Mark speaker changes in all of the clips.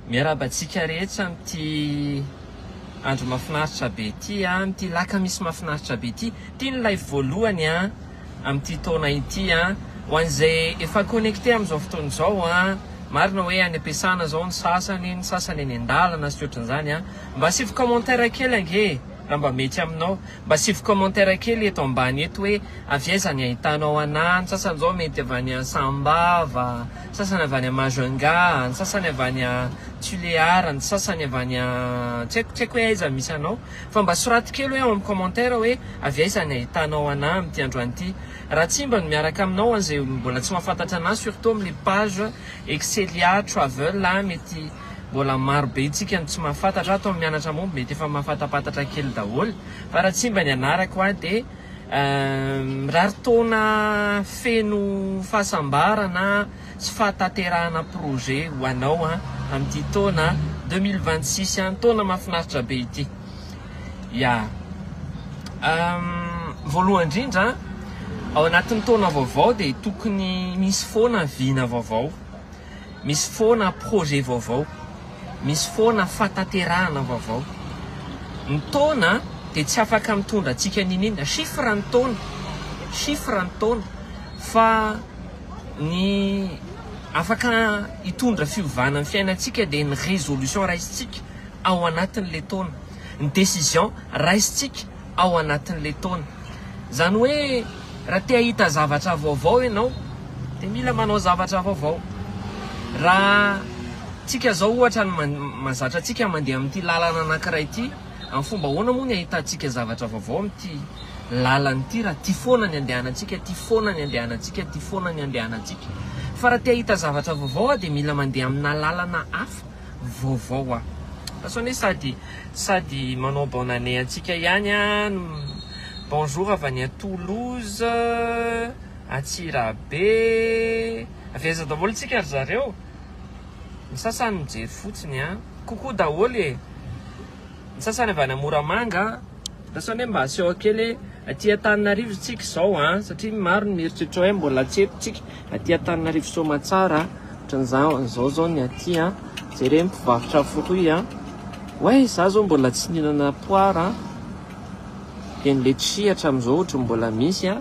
Speaker 1: Miarahaba antsika rehetra amin'ity andro mahafinaritra be ity, ah, amin'ity lakamisy mahafinaritra be ity. Ity ny live voalohany ah, amin'ity taona ity. Ah. Ho an'izay efa connecté amin'izao fotoana izao, ah, marina hoe any am-piasana izao ny sasany, ny sasany any an-dalana sy ohatrany izany. Ah. Mba asivo commentaire kely ange raha mba mety aminao. Mba asivy commentaire kely eto ambany eto hoe avy aiza ny ahitanao anah, ny sasany zao mety avy any Sambava, ny sasany avy any Majunga, ny sasany avy any Tulear, ny sasany avy any tsy haiko tsy haiko hoe aiza misy anao fa mba soraty kely hoe ao amin'ny commentaire hoe avy aiza ny ahitanao anah amin'ity androany ity. Raha tsy mba ny miaraka aminao an'izay mbola tsy mahafantatra anah surtout amin'ny page Excelia Travel mety Mbola maro be tsika no tsy mahafantatra ato amin'ny mianatra moa mety efa mahafantampatatra kely daholo fa raha tsy mba ny anarako aho dia mirary taona feno fahasambarana sy fahataterahana projet ho anao an amin'ity taona deux mille vingt six an taona mahafinaritra be ity ya voalohany indrindra ao anatin'ny taona vaovao dia tokony misy foana vina vaovao Misy foana projet vaovao, misy foana fataterahana vaovao. Ny taona dia tsy afaka mitondra antsika niniana, chiffre ny taona, chiffre ny taona, fa ny afaka hitondra fiovana amin'ny fiainantsika dia ny résolution raisintsika ao anatin'ilay taona, ny décision raisintsika. ao anatin'le taona. Zany hoe raha te ahita zavatra vaovao enao de mila manao zavatra vaovao. Raha tsika zao ohatra ny mazatra tsika mande amin'ity lalana anakiray ity, amin'ny fomba ahoana moa ny ahitantsika zavatra vaovao amin'ity lalana ity raha ty foana ny andehanantsika, ty foana ny andehanantsika, ty foana ny andehanantsika. Fa raha te ahita zavatra vaovao ah de mila mande amina lalana hafa. vaovao an! Lasa hoe sady sady manao bonne année antsika ihany an! Bonjour avy any Toulouse, Antsirabe, avy aiza daholo tsika ry zareo? Ny sasany mijery fotsiny an! Coucou daholo e! Ny sasany avy any Moramanga an! Lasa hoe mba aseho kely hoe aty Antananarivo tsika izao an! Satria maro ny mieritreritra hoe mbola tsy eto tsika. Aty Antananarivo Soamatsara a, ohatran'ny za zao zao ny aty a, jere ny mpivarotra fruits a, oay za zao mbola tsy nihinana poire a, dia ny letchis hatramin'izao ohatry ny mbola misy a,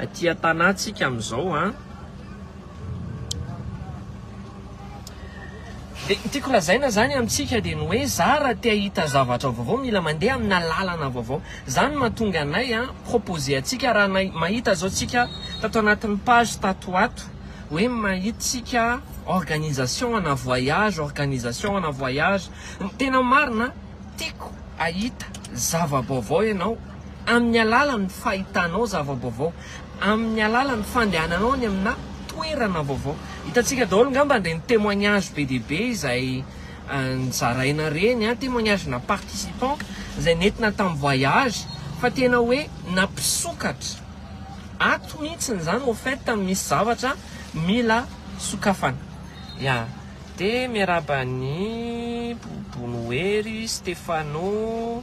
Speaker 1: aty Antanà tsika amin'izao a. Dia ny tiako lazaina izany amintsika dia ny hoe za raha te hahita zavatra vaovao mila mandeha amina lalana vaovao. Izany no mahatonga anay a proposer antsika raha nay mahita zao tsika tato anatin'ny page tato ho ato hoe mahita tsika organisation ana voyage, organisation ana voyage. Ny tena marina tiako hahita zava-baovao ianao amin'ny alalan'ny fahitanao zava-baovao. amin'ny alalan'ny fandehananao any aminà toerana vaovao. Hitantsika daholo ngamba an'ireny témoignage be dia be izay nozaraina ireny, témoignage na participants izay nentina tamin'ny voyage fa tena hoe nampisokatra. Ato mihitsy izany au fait misy zavatra mila sokafana. Ya, dia miarahaba an'i Bobonohery, Stéphano.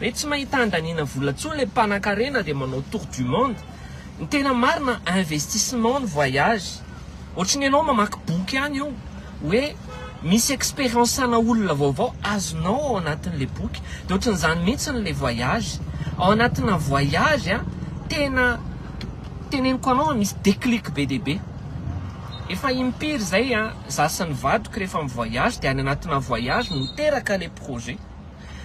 Speaker 1: Re tsy mahita andaniana vola tsony le mpanakarena de manao tour du monde. Ny tena marina investissement ny voyage. Ohatry ny enao mamaky boky any eo oe misy experience ana olona vaovao azonao ao anatin le boky. De ohatry ny zany mintsy ny le voyage. Ao anatina voyage a tena teneniko anao a misy declic be dia be. Efa impiry zay a za sy ny vadiko refa mi voyage de any anatina voyage no teraka le projet.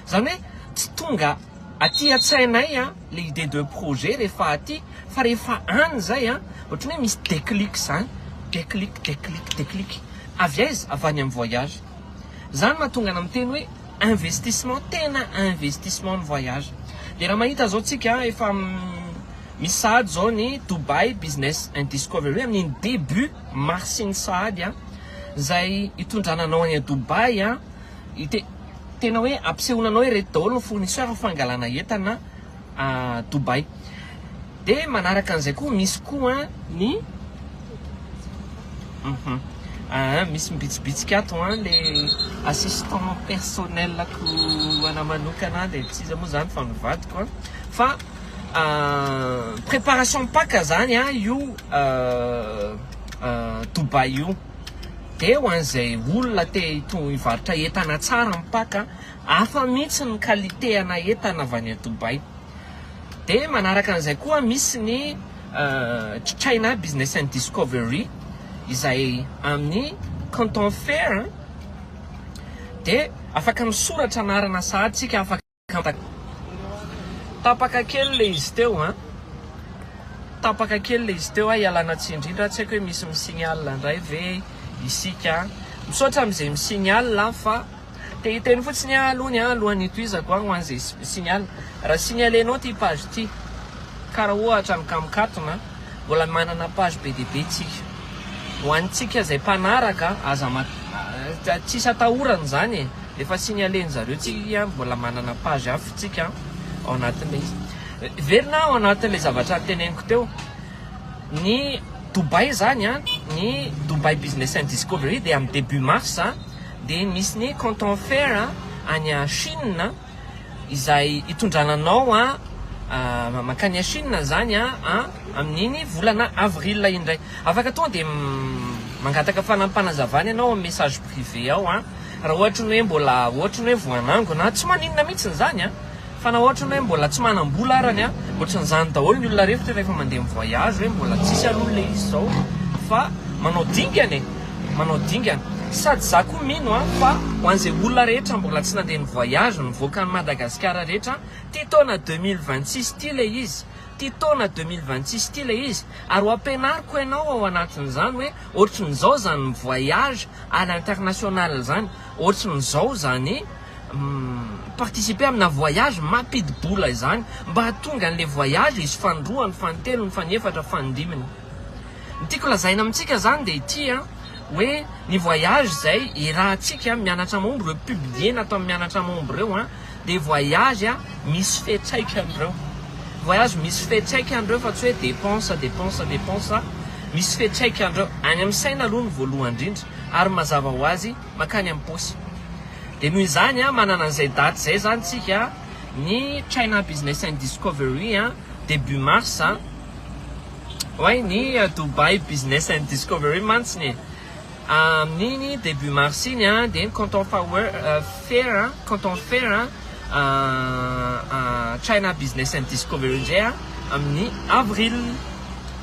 Speaker 1: Izany hoe tsy tonga aty an-tsainay ilay idée de projet rehefa aty fa rehefa any izay ohatran'ny hoe misy déclic izany, déclic, déclic, déclic. Avy aiza? Avy any amin'ny voyage. Izany no mahatonga anà miteny hoe investissement, tena investissement ny voyage. Dia raha mahita izao tsika efa misy sahady izao ny Dubai Business and Discovery hoe amin'iny début mars iny sahady izay hitondrana anao any Dubai. Te tena hoe ampisehoana anao ireto daholo ny fournisseur fangalana entana à Dubaï. De manaraka an'izay koa misy koa ny uhum aa misy mibitsibitsika ato an le assistant personnel ko ana manokana de tsy iza moa zany fa ny vadiko an fa préparation Paka zany an io Dubaï io. dia ho an'izay olona te hivarotra entana tsara mipaka hafa mihitsy ny qualité ana entana avy any Dubaï. Dia manaraka an'izay koa misy ny China Business and Discovery izay amin'ny Canton Fair dia afaka misoratra anarana sahady isika afaka Tapaka kely le izy teo an. Tapaka kely le izy teo a, ialana tsiny indrindra, tsy haiko hoe misy mi-signale indray ve isika an. Misaotra amin'izay mi-signale an, fa te hiteny fotsiny aho alohany an, alohan'ny hitohizako an, ho an'izay mi-signale, raha signalenao ity page ity, karaha ohatra ny kamikatona an, mbola manana page be dia be tsika, ho antsika izay mpanaraka, aza, tsisy atahorana izany e. Efa signaler-ny zareo tsika iky an, mbola manana page hafa tsika an, ao anatin'ilay izy. Miverina ao anatin'ilay zavatra niteneniko teo, ny Dubai zany an, ny Dubai Business and Discovery dia amin'ny début mars an, dia misy ny Canton Fair an, any à Chine an, izay hitondrana anao an mankany à Chine zany an, an amin'iny volana avril indray. Afaka tonga dia mangataka fanapanazavana ianao amin'ny message privé ao an. Raha ohatry ny hoe mbola ohatry ny hoe voanangona a, tsy maninona mihitsy izany a! Fa na ohatry ny hoe mbola tsy manam-bola arany a, ohatran'izany daholo ny olona rehetra rehefa mandeha mi-voyage hoe mbola tsisy aloha ilay izy izao fa manao dingana e! Manao dingana. Sady za koa mino a fa ho an'izay olona rehetra mbola tsy nandeha ni-voyage nivoaka an'i Madagasikara rehetra ty taona deux mille vingt six ty ilay izy, ty taona deux mille vingt six ty ilay izy, ary ho ampianariko ianao ao anatin'izany hoe Ohatrin'izao zany mi voyage à l'international zany, ohatrin'izao zany mi participer amina voyage mampidi-bola izany mba hahatonga an'ilay voyage hisy fanindroany, fanintelony, fanefatra, fanindiminy. Ny tiako lazaina amintsika zany dia ity an, hoe ny voyage izay iarahantsika mianatra am omby, ireo publier natao amin'ny mianatra am omby ireo an, Dia voyage misy fetraikany ireo. Voyage misy fetraikany ireo fa tsy hoe dépense, dépense, dépense. Misy fetraikany ireo. Any amin'ny saina aloha no voalohany indrindra. Ary ny mazava ho azy, mankany amin'ny paosy. Dia noho izany, manana an'izay daty izay izany isika, ny China Business and Discovery, début mars, oay ny Dubai Business and Discovery mantsy ny e! Amin'iny début mars iny an, dia ny compte fer, compte en fer China Business and Discovery indray an, amin'ny avril.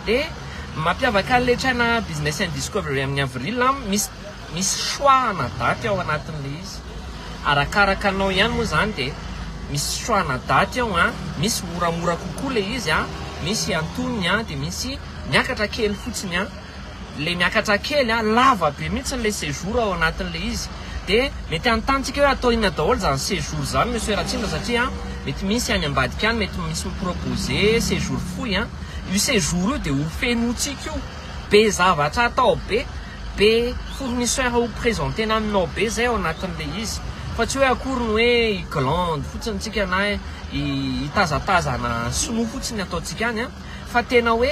Speaker 1: Dia ny mampiavaka an'ilay China Business and Discovery amin'ny avril an, misy misy choix-na daty ao anatin'ilay izy. Arakaraka anao ihany moa izany dia misy choix-na daty ao an, misy moramora kokoa ilay izy an, misy antonony an, dia misy miakatra kely fotsiny an. le miakatra kely a, lava be mihitsy le séjour ao anatiny le izy, de mety anontany tsika hoe atao inona daholo zany séjour zany Monsieur Ratsindra satria mety misy any ambadika any mety misy mi propose séjour fohy a, io séjour io de ho fenotsika io, be zavatra atao be, be fournisseur ho presentena aminao be zay ao anatiny le izy, fa tsy hoe akory ny hoe hi glande fotsiny tsika na hitazatazana sinoa fotsiny ataontsika any a. fa tena hoe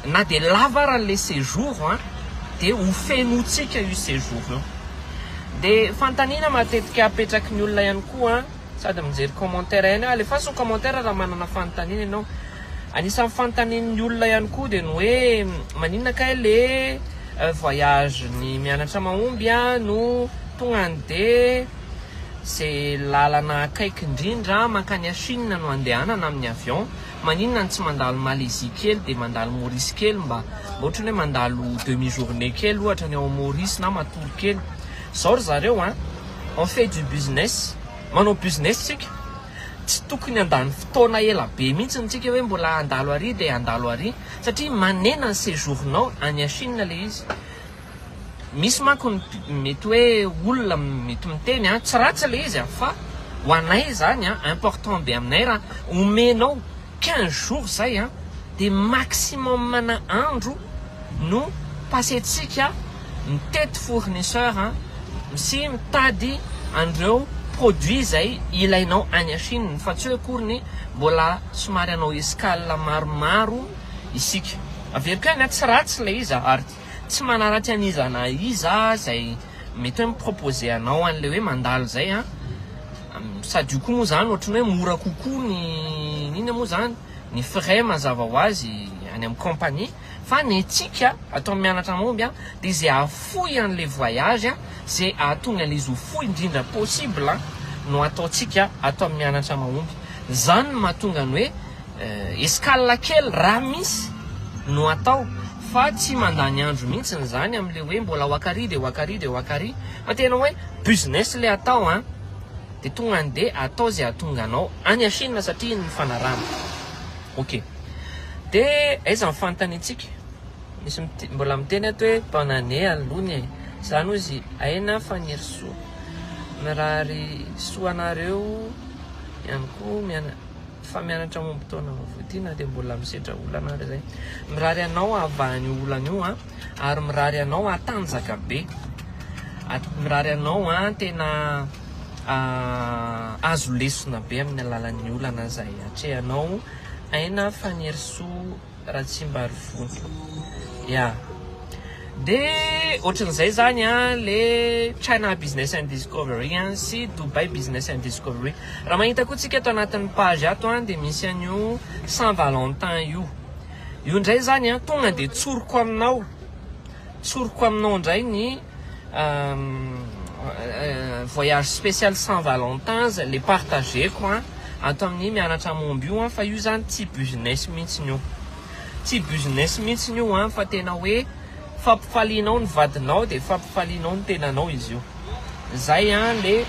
Speaker 1: na dia lava ary ilay séjour an, dia ho fenointsika io séjour io. Dia fanontaniana matetika apetraky ny olona ihany koa an, sady mijery commentaire ihany aho, alefaso ny commentaire raha manana fanontaniana ianao, anisan'ny fanontanian'ny olona ihany koa dia ny hoe maninona kay le voyage ny mianatra mahomby an no tonga any dia Izay lalana akaiky indrindra mankany à Chine no andehanana amin'ny avion, maninona no tsy mandalo Malaisie kely dia mandalo Maurice kely mba mba ohatran'ny hoe mandalo demi journée kely ohatra ny ao Maurice na matory kely. Izao ry zareo a, on fait du business, manao business isika, tsy tokony handany fotoana ela be mihitsy amintsika hoe mbola handalo ary dia handalo ary satria manena ny séjour-nao any à Chine ilay izy. Misy manko ny mety hoe olona mety miteny a, tsy ratsy le izy a, fa ho anay izany a, important be aminay raha omenao quinze jours izay a, dia maximum ana andro no pasentsika mitety fournisseur sy mitady an'ireo produits izay ilainao any Chine, fa tsy hoe akory ny mbola somary hanao escale maromaro isika. Averiko ihany a, tsy ratsy le izy a, Art. tsy manaratsy an'iza na iza aho izay mety hoe mi-proposer anao an'ilay hoe mandalo izay an! sady io koa moa izany ohatran'ny hoe mora kokoa ny inona moa izany? ny frais mazava ho azy any amin'ny compagnie fa ny antsika ato amin'ny Mianatra Mahomby an! dia izay hahafoy an'ilay voyage an! izay hahatonga an'ilay izy ho fohy indrindra possible an! no ataontsika ato amin'ny Mianatra Mahomby, izany no mahatonga ny hoe Escale kely raha misy no atao fa tsy mandany andro mihitsiny izany amin'ilay hoe mbola ao Akary dia ao Akary dia ao Akary fa tena hoe business ilay atao an! dia tonga any dia atao izay hahatonga anao any à Chine satria iny ny fanarahana. Ok. Dia aiza ny fanontaniantsika? Misy mit- mbola miteny ato hoe bonne année aloha ny e! Za no izy Aina Fanirisoa. Mirary soa anareo ihany koa miana. Mifamianatra momba taona vaovao ity na dia mbola misedra olana ary izay. Mirary anao hahavaha an'io olana io an, ary mirary anao hatanjaka be. Mirary anao an tena hahazo lesona be amin'ny alalan'ny olana izay atrehanao. Aina Fanirisoa Ratsimbarivoto ya de otran'izay zany a le China business and discovery a sy Dubai business and discovery raha mahita koa tsika ato anatin'ny page ato a de misy an'io Saint Valentin io io ndray zany a tonga de tsoriko aminao tsoriko aminao ndray ny Voyage spécial Saint Valentin zay le partageko an, ato amin'ny mianatra momba io an, fa io zany tsy business mihitsy io, tsy business mihitsy io an, fa tena hoe fampifalianao ny vadinao dia fampifalianao ny tenanao izy io, zay an le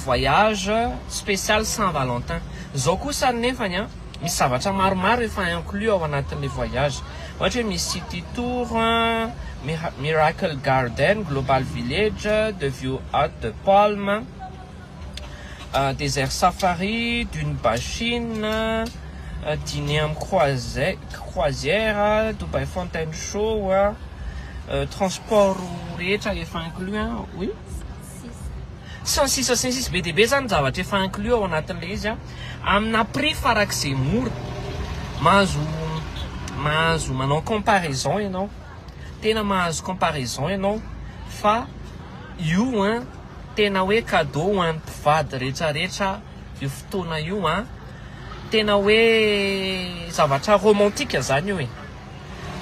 Speaker 1: voyage spécial Saint Valentin, zao kosa ny nefany an, Misy zavatra maromaro efa inclus ao anatin'ilay voyage. Ohatra hoe misy city tour, miracle garden, global village, the view hut de palme, desert safari, dune bachine, diner am croisière, dubai fontaine show, transport rehetra efa inclus an! oui. Sy ny sisa sy ny sisa. Be dia be izany ny zavatra efa inclus ao anatin'ilay izy an. Amina prix farak'izay mora. Mahazo, mahazo manao comparaison ianao. Tena mahazo comparaison ianao fa io an tena hoe cadeau ho an'ny mpivady rehetra rehetra io fotoana io an. Tena hoe zavatra romantique izany io e.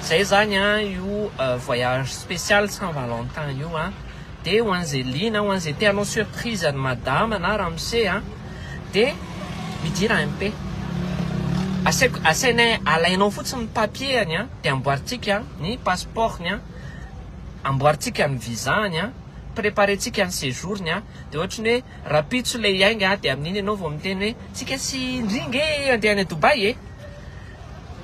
Speaker 1: zay zany an io voyage spécial saint valentin io an de ho an'izay liana ho an'izay te hanao surprise an'i madama na ramose an de midira MP asaiko asainay alainao fotsiny ny papier-ny an de amboarintsika ny passeport-ny an amboarintsika ny visa-ny an préparentsika ny séjour-ny an de ohatra ny hoe rahampitso ilay hiainga an de amin'iny ianao vao miteny hoe tsika sy indry nge andeha any Dubaï e.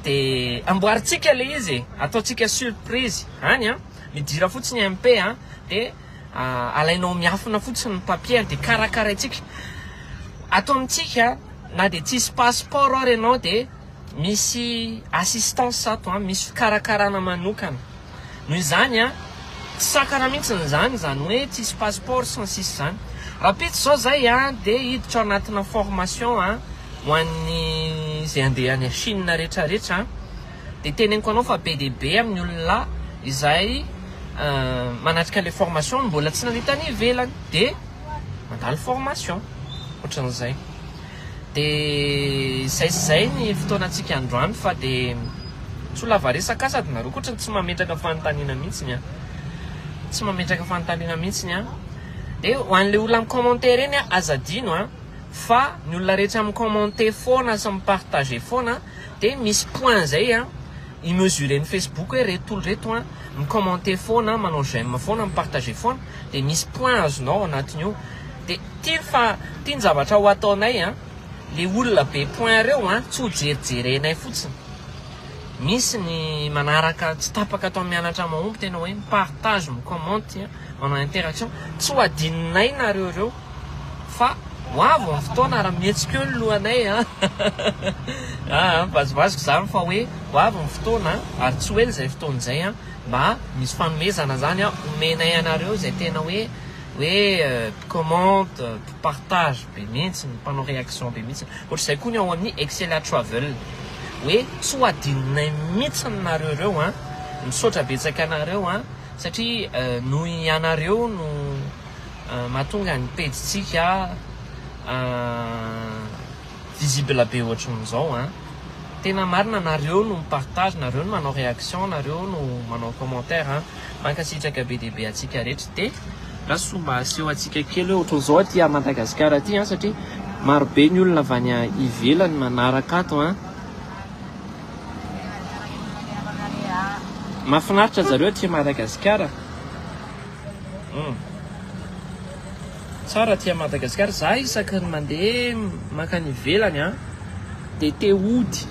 Speaker 1: de amboarintsika le izy e, ataontsika surprise any an, midira fotsiny MP an, de alainao miafina fotsiny ny papier de karakaraintsika, ato amintsika na de tsisy passeport ary ianao de misy assistance ato an, misy fikarakarana manokana. Noho izany an, tsy sakana mihitsy ny izany, izany hoe tsisy passeport sy ny sisa izany. Rahampitso izao izay an, dia hiditra anatina formation an, ho an'ny izay handeha any Chine rehetra rehetra an, dia teneniko anao fa be dia be amin'ny olona izay manatrika ilay formation no mbola tsy nande tany ivelany dia mandalo formation, ohatran'izay. Dia izay sy izay ny fotoanantsika androany fa dia tsy ho lava resaka aho sady nareo koa tsy mametraka fanontaniana mihitsiny an! Tsy mametraka fanontaniana mihitsiny an! Dia ho an'ilay olona mi-commenter ireny an, aza adino an! Fa ny olona rehetra mi-commenter foana sy mi-partager foana dia misy point izay an, i-mesuren'ny Facebook hoe ireto olona ireto an, mi-commenter foana, manao j'aime foana, mi-partager foana dia misy point azonao ao anatin'io. De ity fa ity ny zavatra ho ataonay an, le olona be point reo an tsy ho jerijerenay fotsiny, misy ny manaraka tsy tapaka atao mianatra mahomby tena hoe mi partage mi commente an manao interaction tsy ho adininay nareo reo fa ho avy ny fotoana ary mihetsika eo ny lohanay an aa mivazivaziko zany fa hoe ho avy ny fotoana ary tsy ho ela izay fotoana izay an mba misy fanomezana zany an omenay anareo izay tena hoe hoe mpicommente, mpipartage be mihitsy, mpanao réaction be mihitsy. Ohatr'izay koa ny ao amin'ny Excella Travel hoe tsy ho adinonay mihitsy nareo ireo an! Misaotra betsaka anareo an! Satria noho ianareo no mahatonga ny pejintsika. Visible be ohatrin'izao an! Tena marina nareo no mipartage, nareo no manao réaction, nareo no manao commentaire an! Mankasitraka be dia be atsika rehetra de. Rasoa mba aseho atsika kely hoe ohatrin'izao aty a Madagascar aty an! Satria maro be ny olona avy any ivelany manaraka ato an! Mafinaritra zareo aty Madagascar a! Hum. Tsara aty Madagascar, za isaky ny mande mankany ivelany an de te hody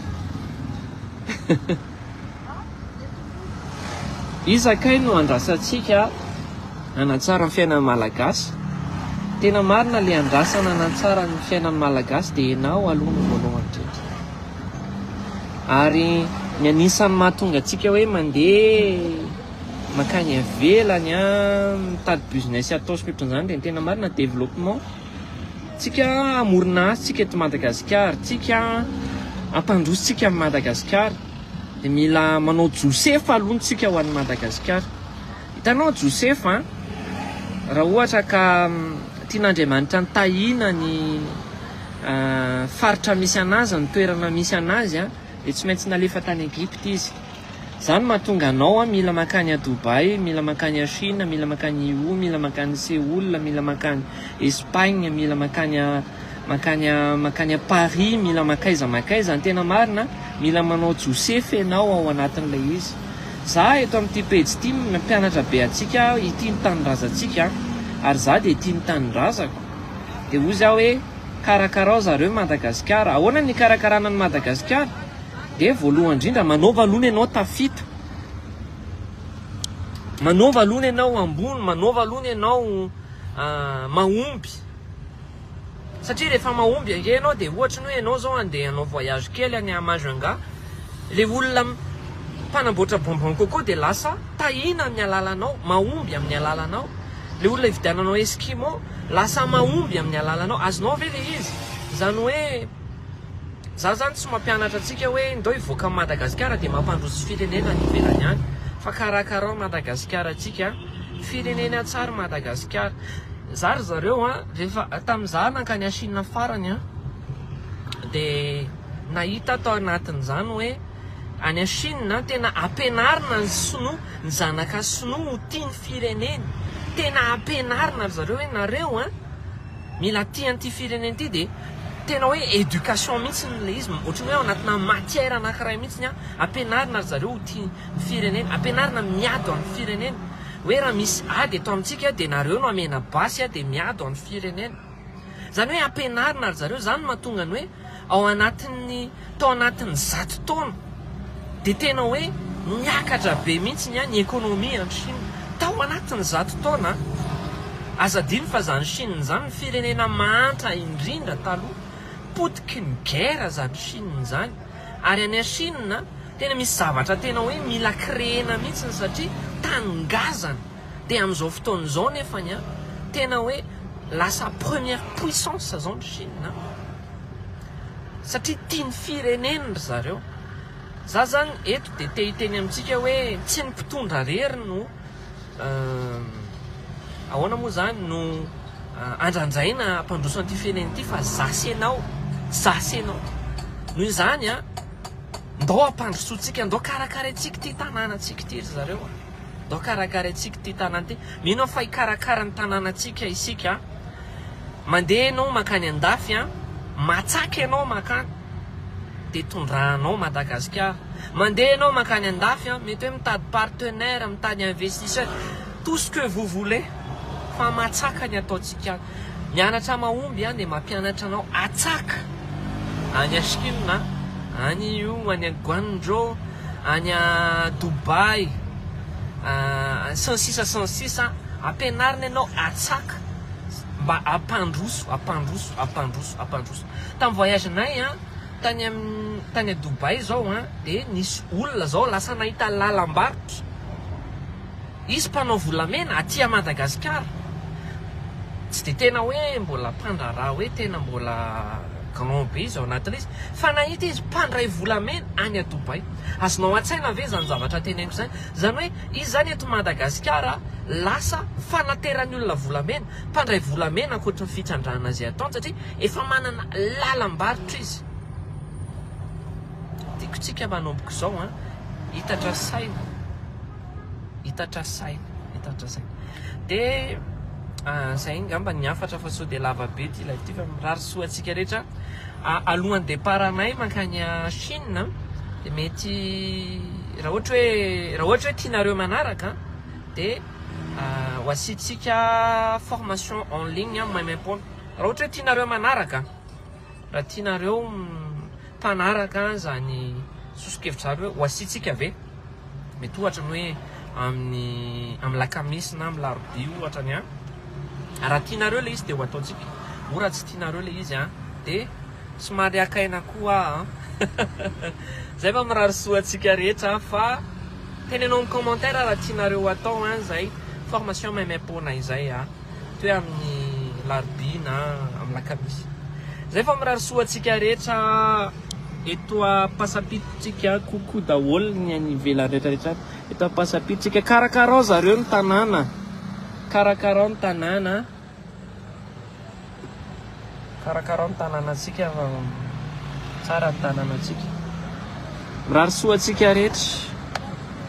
Speaker 1: Iza kay no andrasantsika hanatsara ny fiainan'ny Malagasy? Tena marina le andrasana hanatsara ny fiainan'ny Malagasy de enao aloha no voalohany indrindra ary ny anisan'ny mahatonga antsika hoe mande Mankany avelany a mitady business ataosika otranzany de ny tena marina developpement tsika amorona asa tsika eto Madagascar tsika ampandroso tsika am Madagascar de mila manao josefa aloha tsika ho any Madagascar hitanao josefa raha ohatra ka tian Andriamanitra ny tahina ny faritra misy anazy ny toerana misy anazy a de tsy maintsy nalefa tany Egypte izy Zany mahatonga anao an mila mankany a Dubai, mila mankany a Chine, mila mankany Yiwu, mila mankany Seoul, mila mankany Espagne, mila mankany a mankany a mankany a Paris, mila mankaiza mankaiza, ny tena marina mila manao josefy enao ao anatin'ilay izy. Za eto amin'ity pejy ity mpianatra be antsika aho hitia ny tanindrazantsika an, ary za dia tia ny tanindrazako, dia hoy za hoe karakarao zareo Madagasikara, ahoana ny hikarakarana an'i Madagasikara? Dia voalohany indrindra manaova aloha ny anao tafita, manaova aloha ny anao ambony, manaova aloha ny anao mahomby. Satria rehefa mahomby ange ianao dia ohatra ny hoe ianao izao andeha hanao voyage kely any à Majunga, ilay olona mpanamboatra bonbon coco dia lasa tahiana amin'ny alalanao, mahomby amin'ny alalanao. Ilay olona ividiananao esquimau lasa mahomby amin'ny alalanao. Azonao ve ilay izy? Izany hoe. Za zany tsy mampianatra antsika hoe ndao hivoaka Madagasikara dia mampandroso firenena any ivelany any fa karakarao Madagasikara antsika firenena tsary Madagasikara za ry zareo an rehefa tamin'ny za nankany à Chine farany an dia nahita tao anatin'izany hoe any à Chine an tena ampianarina ny sinoa ny zanaka sinoa ho tia ny fireneny tena ampianarina ry zareo hoe nareo an Mila tia an'ity firenena ity dia tena hoe éducation mihitsy ilay izy, ohatran'ny hoe ao anatina matière anankiray mihitsy ny ampianarina ry zareo ho tia ny firenena, ampianarina miady ho an'ny firenena, hoe raha misy ady eto amintsika dia nareo no hamena basy dia miady ho an'ny firenena. Izany hoe ampianarina ry zareo, izany no mahatonga ny hoe ao anatin'ny. Tao anatin'ny zato taona dia tena hoe niakatra be mihitsy ny économie any Chine. Tao anatin'ny zato taona an! Aza adino fa izany Chine izany ny firenena mahantra indrindra taloha. Potiky ny guerre izany Chine izany. Ary any Chine an, tena misy zavatra tena hoe mila créer-na mihitsy satria tany ngazana. Dia amin'izao fotoana izao nefany an, tena hoe lasa première puissance izao ny Chine an! satria tia ny fireneny ry zareo, za zany eto dia te hiteny amintsika hoe tsy ny mpitondra rery no ahoana moa zany no andrandraina hampandroso an'ity firenena ity fa za sy enao, za sy enao, noho izany an, ndao hampandrosoantsika, ndao karakaraintsika ity tanànantsika ity ry zareo a. Ndao karakaraintsika ity tanàna ity. Mino aho fa hikarakara ny tanànantsika isika. Mandeha ianao mankany an-dafy, matsaka ianao mankany, dia tondranao Madagasikara. Mandeha ianao mankany an-dafy, mety hoe mitady partenaire, mitady investisseur, tout ce que vous voulez, fa matsaka ny ataontsika any. Mianatra mahomby an dia mampianatra anao atsaka any a chine a, any io any a guangzhou, any a dubai a, sy ny sisa sy ny sisa ampianarina ianao atsaka mba ampandroso ampandroso ampandroso ampandroso tam voyage nay a tany am tany a dubai zao a de nisy olona zao lasa nahita lalam-barotra Hisy mpanao volamena aty a Madagasikara. Tsy dia tena hoe mbola mpandraharaha hoe tena mbola grand be izy ao anatin'izy. Fa nahita izy mpandray volamena any a Dubai. Azonao an-tsaina ve izany zavatra teneniko izany? Izany hoe izy izany eto Madagasikara lasa fanateran'ny olona volamena, mpandray volamena ankoatry ny fitrandrahana izay ataony satria efa manana lalam-barotra izy. Tiako tsika manomboka izao an. Hitatra saina. hitatra saina, hitatra saina. Dia izay ngamba ny hafatra fa sao dia lava be ity live ity fa mirary soa antsika rehetra. Alohan'ny départ-nay mankany Chine dia mety raha ohatra hoe raha ohatra hoe tianareo manaraka dia ho asiantsika formation en ligne maimaimpona. Raha ohatra hoe tianareo manaraka, raha tianareo mpanaraka izany soso-kevitr'zareo hoe ho asiantsika ve? mety ohatra ny hoe amin'ny amin'ny lakamisy na amin'ny larobia ohatra ny an! raha tianareo ilay izy dia ho ataontsika, moa raha tsy tianareo ilay izy an! dia somary haka aina koa aho an! izay fa mirary soa antsika rehetra an! fa teneno amin'ny commentaire raha tianareo ho atao an! izay formation maimaim-poana izay an! Toe amin'ny larobia na amin'ny lakamisy. Zay fa mirary soa antsika rehetra eto ampasampito tsika coucou daholo ny any ivelany rehetra rehetra any eto ampasampito tsika karakarao zareo ny tanàna karakarao ny tanàna karakarao ny tanàna tsika fa tsara ny tanàna tsika mirary soa antsika rehetra